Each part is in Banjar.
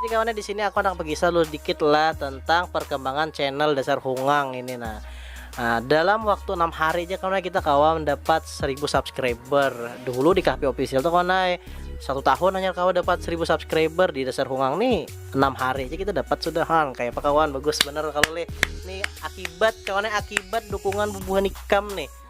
Jadi kawannya di sini aku handak begisah dulu dikit lah tentang perkembangan channel dasar hungang ini nah. Nah, dalam waktu 6 hari aja kawan kita kawan dapat 1000 subscriber. Dulu di KP official tuh kawan satu tahun hanya kawan dapat 1000 subscriber di dasar hungang nih 6 hari aja kita dapat sudah hang kayak apa kawan bagus bener kalau nih akibat kawannya akibat dukungan bubuhan ikam nih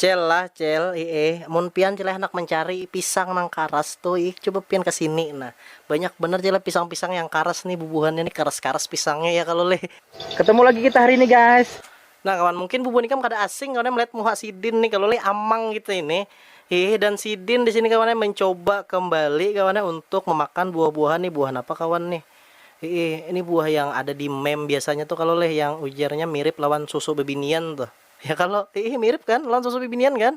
Cel lah cel iih mun pian cel handak mencari pisang nang karas tu iih coba pian kesini nah banyak banar cel pisang pisang yang karas nih bubuhannya nih karas karas pisangnya ya kalo leh. Ketemu lagi kita hari ini guys. Nah kawan, mungkin bubun ikam kada asing kawan melihat muha sidin nih kalu leh, amang kita ini. Hiih, dan sidin di sini kawan mencoba kembali kawan untuk memakan buah-buahan nih, buah napa kawan nih. Hiih, ini buah yang ada di meme biasanya tuh kalu leh, yang ujarnya mirip lawan susu bibinian tuh. Ya kalo? Hiih, mirip kan lawan susu bibinian kan?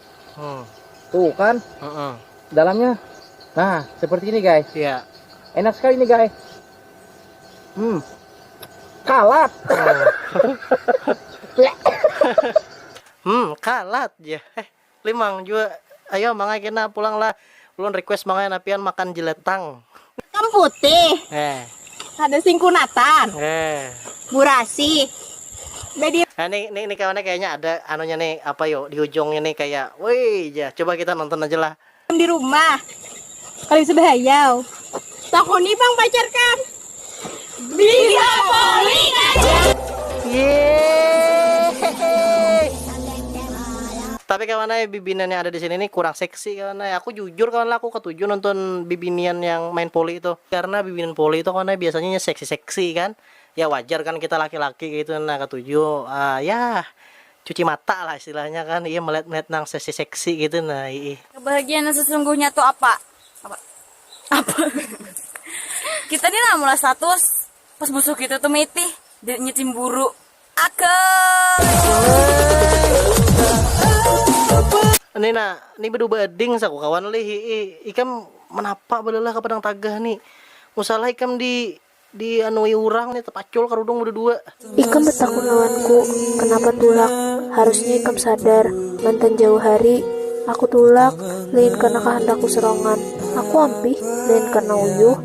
tuh kan dalamnya nah seperti ini guys ya enak sekali nih guys hmm kalat hmm kalat ya eh limang juga ayo mangai kena pulanglah Ulun request mangaya nah pian makan jeletang. Hitam putih. Kada sing kunatan. Burasi. Badi. Nah ni ni ni kawannya kayaknya ada anunya ni apa yo di ujungnya ni kaya woi jar coba kita nonton aja lah. Am di rumah. Kada bisa bahayau. Takoni pang pacar kam. Bida poli kah jar. Tapi kawannya bibinian yang ada di sini ni kurang seksi. Aksi kawan ai, aku jujur kawan lah aku katuju nonton bibinian yang main poli tuh. Karena bibinian poli tuh kawan ai biasanya inya seksi seksi kan, ya wajar kan kita laki laki kaya itu nah katuju yah cuci mata lah istilahnya kan iya melihat melihat nang seksi seksi kaya itu nah iih. Kebahagiaan nang sesungguhnya tu apa? Apa? Apa? Kita ni lah mula status. Pas busuh kita tuh metih, jadinya cimburu. Akel. Ini nah, ini bedu bading saku kawan lih. Ikam menapa belelah ke padang tagah ni. Musalah ikam di di anui urang ni tepacul karudung bedu dua. Ikam betakun lawanku kenapa tulak, harusnya ikam sadar mantan jauh hari aku tulak lain karena kahandakku serongan. Aku ampih lain karena uyuh.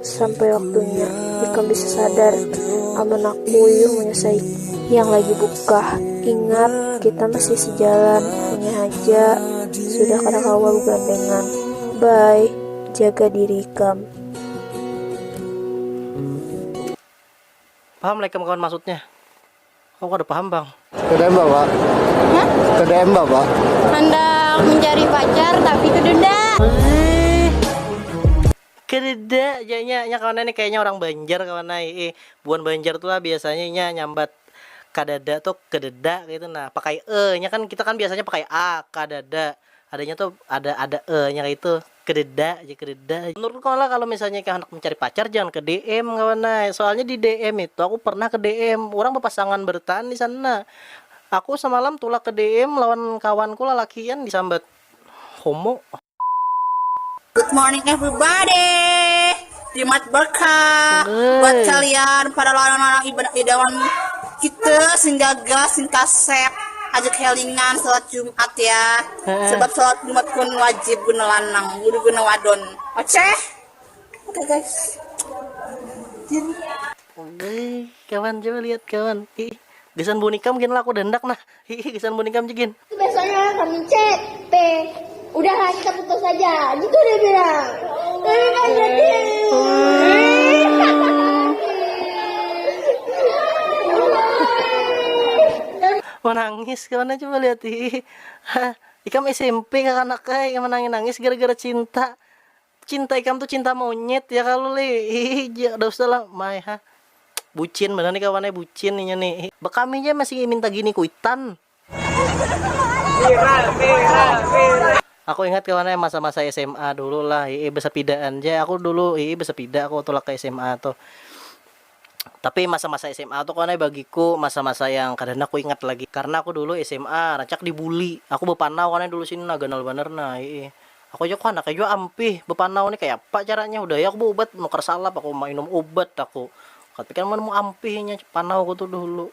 Sampai waktunya ikam bisa sadar amun aku yuk menyesai. Yang lagi buka, ingat kita masih sejalan, hanya haja sudah kada kawa begandengan. Bye, jaga diri ikam. Paham lah ikam kawan maksudnya. Aku kada paham bang. Kada mbak pak. Hah? Kada mbak pak. Hendak mencari pacar tapi kedunda. Kedunda janya nya kawan ini kayaknya orang Banjar kawan ai. Eh, buan Banjar tu lah biasanya inya nyambat kadada tu kededa kaitu nah. Pakai e nya kan kita kan biasanya pakai a, kadada. Adanya tu ada ada e nya kaitu. Kededa aja kededa aja. Menurut ikam lah kalo misalnya ikam handak mencari pacar jangan ke DM kawan ai. Soalnya di DM itu aku pernah ke DM urang bepasangan bertaan di sana. Aku semalam tulak ke DM lawan kawanku lalakian di sambat homo. Good morning everybody. Jimat berkah buat kalian para larang-larang ibadah idawan kita sing gagal sing kasep aja kelingan salat Jumat ya. Sebab salat Jumat kun wajib guna lanang, kudu guna wadon. Oke? Oke guys. Oke, kawan coba lihat kawan. Ih, gasan bunikam gin laku dandak nah. Hi hi gasan muning kam ja gin. Tu besoknya kami chat pe udah lah kita putus aja gitu dia bilang. Tapi kan jadi. Manangis kawan coba lihat hi. Ikam SMP kakanak ai yang menangis nangis gara gara cinta. Cinta ikam tu cinta monyet ya kalu lih hihihi kada usah lah my ha bucin banar ni kawan ai bucin inya ni hi. Bekami ja masih minta gini kuitan. Aku ingat kawan ai masa masa sma dulu lah hihi besepidaan ja aku dulu hihi besepida aku tulak ke sma tuh. Tapi masa-masa sma tu kawan ai bagiku masa-masa yang kada handak kuingat lagi. Karna aku dulu sma rancak dibuli. Aku bapanau kawan ai dulu sini nah ganal banar nah hiih. Aku aja handak ai jua ampih bapanau ni kayapa caranya hudah ai aku baubat manukar salap aku mainum ubat aku. Tapi kan mun ampih inya panauku tu dahulu.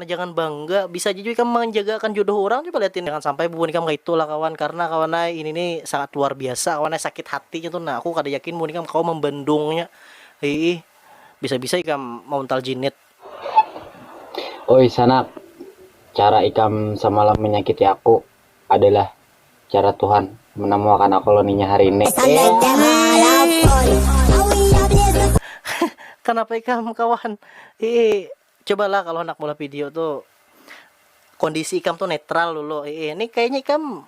Nah jangan bangga, bisa aja jua ikam manjaga akan jodoh urang coba liatin jangan sampai bubuhan ikam kaitu lah kawan karna kawan ai ini ni sangat luar biasa kawan ai sakit hati nya tu nah aku kada yakin bubuhan ikam kawa mambandung nya hiih bisa bisa ikam mauntal jinit. Oi sanak, cara ikam samalam manyakiti aku adalah cara Tuhan manamuakan aku lawan inya hari ini iih. Kanapa ikam kawan, hiih Cobalah kalo handak maulah video tu kondisi ikam tu netral dulu iih ni kayanya ikam.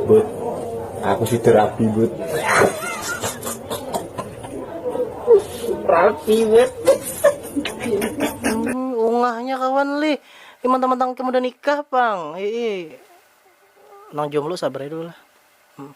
Bud aku situ rapi bud. Rapi bud. Hmm, ungahnya kawan lih. Ini mantang-mantang ikam udah nikah pang. Iih. Nang jomblo sabar aja dulu lah. Hmm.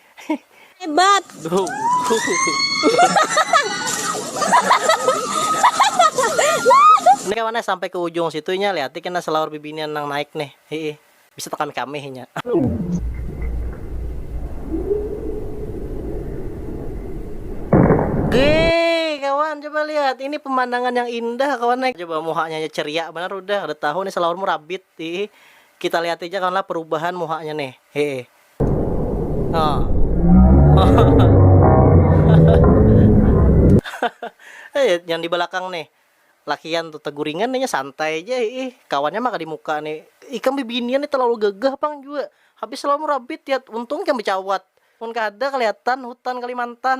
Hebat. Ini kawan sampai ke ujung situ inya lihat kena selaur bibinian nang naik nih. Hiih. Bisa tekan kami inya. Gee kawan coba lihat ini pemandangan yang indah kawan nih. Coba muhanya aja ceria banar udah, udah tahu nih selaurmu rabit. Hiih. Kita lihat aja kawan lah perubahan muhanya nih. Hiih. Oh. eh, yang di belakang nih lakian tuh teguringan nih santai aja ih kawannya mah di muka nih ikam bibinian nih terlalu gagah pang juga habis selalu merabit ya untung kan bercawat pun kada kelihatan hutan Kalimantan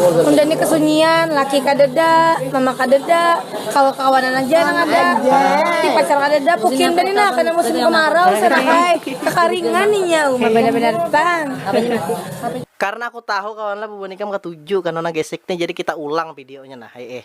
Undani kesunyian, laki kadeda, mama kadeda, kawa kawanan aja nang ada, ti pacar kadeda, pukin banar ni nah kena musim kemarau sanak ai, kekaringan inya uma banar banar pang. Karna aku tahu kawanlah bubuhan ikam katuju kano nang gesek ni jadi kita ulang videonya nah ai eh.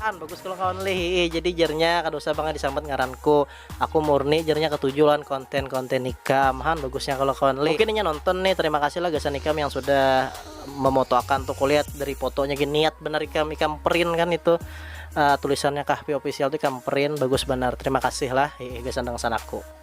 An, bagus kalau kawan leh hiih jadi jernya kada usah banget disambat ngaranku aku murni jernya ketuju lawan konten-konten ikam han bagusnya kalau kawan leh mungkin inya nonton nih terima kasih lah gasan ikam yang sudah memotoakan tuh kulihat dari fotonya gini niat benar ikam ikam print kan itu uh, tulisannya kahpi official tuh ikam print bagus benar terima kasih lah hiih gasan dangsan aku